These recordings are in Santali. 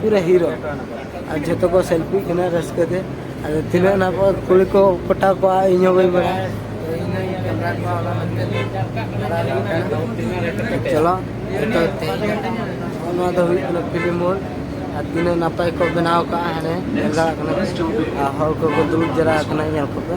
ᱯᱩᱨᱟᱹ ᱦᱤᱨᱳ ᱟᱨ ᱡᱷᱚᱛᱚ ᱠᱚ ᱥᱮᱞᱯᱷᱤ ᱠᱟᱱᱟ ᱨᱟᱹᱥᱠᱟᱹ ᱛᱮ ᱟᱫᱚ ᱛᱤᱱᱟᱹᱜ ᱱᱟ ᱠᱚ ᱠᱩᱲᱤ ᱠᱚ ᱯᱚᱴᱟᱣ ᱠᱚᱣᱟ ᱤᱧ ᱦᱚᱸ ᱵᱟᱹᱧ ᱵᱟᱲᱟᱭᱟ ᱪᱚᱞᱚ ᱡᱚᱛᱚ ᱱᱚᱣᱟ ᱫᱚ ᱦᱩᱭᱩᱜ ᱠᱟᱱᱟ ᱯᱷᱤᱞᱢ ᱢᱳᱲ ᱟᱨ ᱛᱤᱱᱟᱹᱜ ᱱᱟᱯᱟᱭ ᱠᱚ ᱵᱮᱱᱟᱣ ᱠᱟᱜᱼᱟ ᱦᱟᱱᱮ ᱧᱮᱞ ᱫᱟᱲᱮᱭᱟᱜ ᱠᱟᱱᱟ ᱟᱨ ᱦᱚᱲ ᱠᱚᱠᱚ ᱫᱩᱲᱩᱵ ᱡᱟᱣᱨᱟ ᱟᱠᱟᱱᱟ ᱧᱮᱞ ᱠᱚᱯᱮ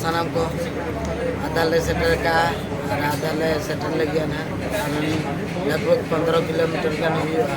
ᱥᱟᱱᱟᱢ ᱠᱚ ᱟᱫᱟᱞ ᱞᱮ ᱥᱮᱴᱮᱨ ᱠᱟᱜᱼᱟ ᱟᱨ ᱟᱫᱟᱞ ᱞᱮ ᱥᱮᱴᱮᱨ ᱞᱟᱹᱜᱤᱫ ᱦᱟᱸᱜ ᱞᱟᱜᱽ ᱵᱷᱟᱜᱽ ᱯᱚᱱᱨᱚ ᱠᱤᱞᱳᱢᱤᱴᱟᱨ ᱜᱟᱱ ᱦᱩᱭᱩᱜᱼᱟ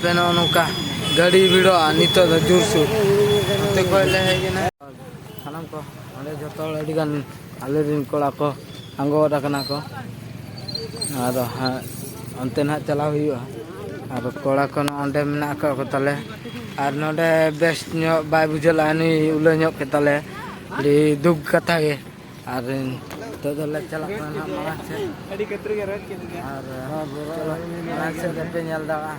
ᱯᱮ ᱱᱚᱜᱼᱚ ᱱᱚᱝᱠᱟ ᱜᱟᱹᱰᱤ ᱵᱷᱤᱲᱚᱜᱼᱟ ᱱᱤᱛᱚᱜ ᱫᱚ ᱡᱳᱨᱥᱳᱨ ᱱᱚᱛᱮ ᱠᱷᱚᱡ ᱞᱮ ᱦᱮᱡ ᱮᱱᱟ ᱥᱟᱱᱟᱢ ᱠᱚ ᱚᱸᱰᱮ ᱡᱚᱛᱚ ᱦᱚᱲ ᱟᱹᱰᱤ ᱜᱟᱱ ᱟᱞᱮ ᱨᱮᱱ ᱠᱚᱲᱟ ᱠᱚ ᱟᱸᱜᱚᱣᱟᱫ ᱟᱠᱟᱱᱟ ᱠᱚ ᱟᱨ ᱚᱱᱛᱮ ᱱᱟᱦᱟᱜ ᱪᱟᱞᱟᱣ ᱦᱩᱭᱩᱜᱼᱟ ᱟᱨ ᱠᱚᱲᱟ ᱠᱚ ᱱᱚᱸᱰᱮ ᱢᱮᱱᱟᱜ ᱟᱠᱟᱫ ᱠᱚ ᱛᱟᱞᱮ ᱟᱨ ᱱᱚᱸᱰᱮ ᱵᱮᱥ ᱧᱚᱜ ᱵᱟᱭ ᱵᱩᱡᱷᱟᱹᱣ ᱞᱮᱫᱼᱟ ᱱᱩᱭ ᱩᱞᱟᱹ ᱧᱚᱜ ᱠᱮᱫ ᱛᱟᱞᱮ ᱟᱹᱰᱤ ᱫᱩᱠ ᱠᱟᱛᱷᱟ ᱜᱮ ᱟᱨ ᱱᱤᱛᱚᱜ ᱫᱚᱞᱮ ᱪᱟᱞᱟᱜ ᱠᱟᱱᱟ ᱱᱟᱦᱟᱜ ᱢᱟᱲᱟᱝ ᱥᱮᱫ ᱟᱹᱰᱤ ᱠᱟᱛᱨᱤ ᱜᱮ ᱨᱚᱲ ᱠᱮᱫ ᱟᱨ ᱢᱟᱲᱟᱝ ᱥᱮᱫ ᱨᱮᱯᱮ ᱧᱮᱞ ᱫᱟᱲᱮᱭᱟᱜᱼᱟ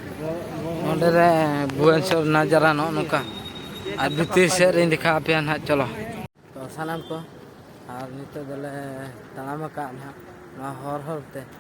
ᱱᱚᱸᱰᱮ ᱨᱮ ᱵᱷᱩᱵᱚᱱᱮᱥᱚᱨ ᱱᱟᱡᱟᱨᱟ ᱱᱚᱜᱼᱚ ᱱᱚᱝᱠᱟ ᱟᱨ ᱵᱷᱤᱛᱤᱨ ᱥᱮᱫ ᱨᱤᱧ ᱫᱮᱠᱷᱟ ᱟᱯᱮᱭᱟ ᱱᱟᱦᱟᱜ ᱪᱚᱞᱚ ᱛᱚ ᱥᱟᱱᱟᱢ ᱠᱚ ᱟᱨ ᱱᱤᱛᱚᱜ ᱫᱚᱞᱮ ᱛᱟᱲᱟᱢ ᱟᱠᱟᱫ ᱱᱟᱦᱟᱜ ᱱᱚᱣᱟ ᱦᱚᱨ ᱦᱚᱨ ᱛᱮ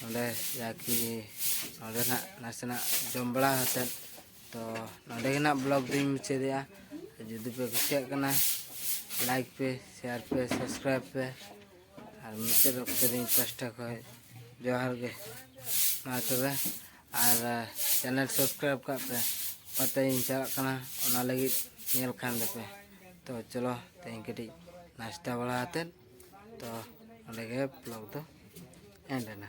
ᱱᱚᱸᱰᱮ ᱡᱟᱠᱤ ᱱᱚᱸᱰᱮ ᱱᱟᱜ ᱱᱟᱥᱮᱱᱟᱜ ᱡᱚᱢ ᱵᱟᱲᱟ ᱠᱟᱛᱮᱫ ᱛᱚ ᱱᱚᱸᱰᱮ ᱜᱮ ᱱᱟᱜ ᱵᱞᱚᱜ ᱫᱚᱧ ᱢᱩᱪᱟᱹᱫᱮᱜᱼᱟ ᱡᱩᱫᱤ ᱯᱮ ᱠᱩᱥᱤᱭᱟᱜ ᱠᱟᱱᱟ ᱞᱟᱭᱤᱠ ᱯᱮ ᱥᱮᱭᱟᱨ ᱯᱮ ᱥᱟᱵᱥᱠᱨᱟᱭᱤᱵ ᱯᱮ ᱟᱨ ᱢᱩᱪᱟᱹᱫ ᱚᱠᱛᱚ ᱨᱮᱧ ᱯᱟᱥᱴᱟ ᱠᱷᱚᱡ ᱡᱚᱦᱟᱨ ᱜᱮ ᱢᱟ ᱛᱚᱵᱮ ᱟᱨ ᱪᱮᱱᱮᱞ ᱥᱟᱵᱥᱠᱨᱟᱭᱤᱵ ᱠᱟᱜ ᱯᱮ ᱚᱠᱟᱛᱮᱧ ᱪᱟᱞᱟᱜ ᱠᱟᱱᱟ ᱚᱱᱟ ᱞᱟᱹᱜᱤᱫ ᱧᱮᱞ ᱠᱷᱟᱱ ᱫᱚᱯᱮ ᱛᱚ ᱪᱚᱞᱚ ᱛᱮᱦᱮᱧ ᱠᱟᱹᱴᱤᱡ ᱱᱟᱥᱛᱟ ᱵᱟᱲᱟ ᱠᱟᱛᱮᱫ ᱛᱚ ᱱᱚᱰᱮ ᱜᱮ ᱵᱞᱚᱜᱽ ᱫᱚ ᱮᱱᱰ ᱮᱱᱟ